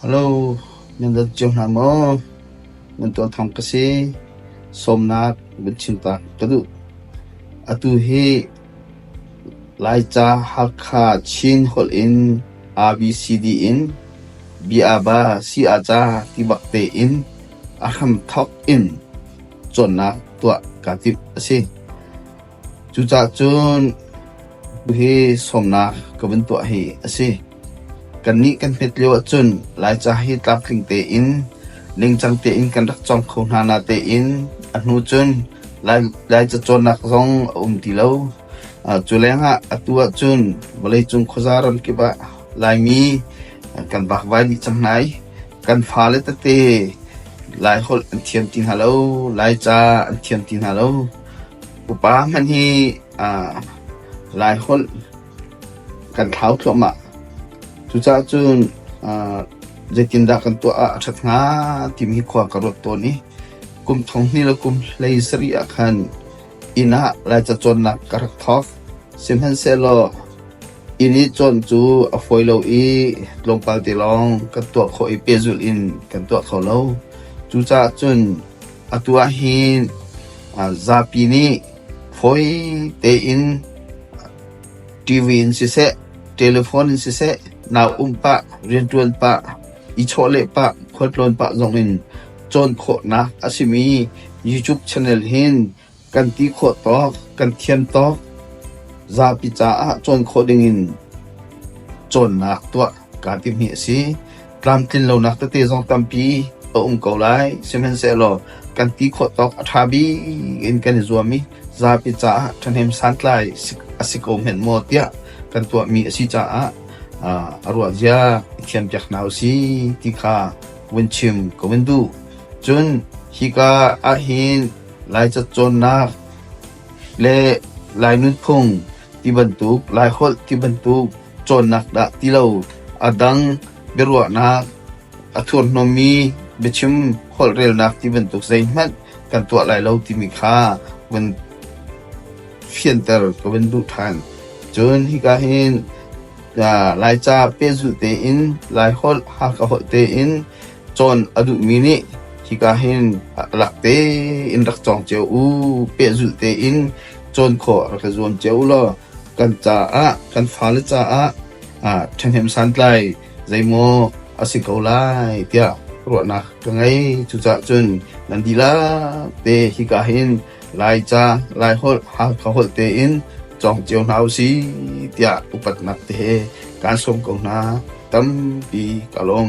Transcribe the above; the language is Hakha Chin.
Hello, nan dat cio hna maw? Nan tuah thawng ka si. Sawmnak van chim ta ka duh. Atu hi Laica, Hakha, Chin holh in ABCD in Biaba, Si-a-ca ti bak tein a hramthawk in cawnnak tuah kaa timh a si. Cucahcun tuhi sawmnak ka vun tuah hi a si. Kannih kan hmet lio ahcun Laica hi tlamtling tein, ningcang tein kan rak cawng kho hna natein a hnu cun Laica cawnnak zong a um ti lo. Cu lengah atu ahcun vawleicung khuaza ramkip ah Laimi kan vakvai dih cang hna i kan fale tete Laiholh an thiam ti hna lo, Laica an thiam ti hna lo. Upa hmanh hi Laiholh kan thlau thluahmah. Cucaah cun zeitindah kan tuah ah a ṭhat hnga timi hi khua ka ruat tawn i kum thong hnih le kum hlei sarih ah khan inn ah Laica cawnnak ka rak thawk. Sihmanhsehlaw inn i cawn cu a fawi lo i tlawmpal te lawng kan tuah khawh i pehzulh in kan tuah kho lo. Cucaah cun Atu ah hi zapi nih fawi tein TV in siseh, telephone in siseh, nau um pah, riantuan pah, i chawhleh pah, khualtlawn pah zong in cawn khawhnak a simi YouTube channel hin kan ti khawh tawk, kan thiam tawk, zapi caah cawn khawh dingin cawnnak tuah kaa timi a si. Tlamtlin lonak tete zong tampi a um ko lai. Sihmanhsehlaw kan ti khawh tawk a ṭha bik in kan i zuam i zapi caah ṭhahnem santlai a si ko hmenh maw tiah kan tuahmi a si caah a ruahzia i thiampiak hna u si ti kha vun chim ka vun duh. Cun hika ahhin Lai catcawnnak le Lai nunphung ti bantuk, Laiholh ti bantuk cawnnak dah ti lo a dang biaruahnak a thurhnawmmi biachim holh relnak ti bantuk zeihmanh kan tuah lai lo timi kha vun fianter ka vun duh ṭhan. Cun hika hin Laica pehzulh tein, Laiholh ha ka holh tein cawn a duhmi nih hika hin rak te in rak cawng cio u, pehzulh tein cawn khawh rak i zuam cio u law kan caah kan fale caah ṭhahnem santlai zeimaw a si ko lai tiah ruahnak ka ngei. Cuca'h cun nan dihlak te hika hin Laica, Laiholh, Hakha holh tein cawng cio hna u si tiah upatnak te he kaan sawm ko hna. Tampi ka lawm.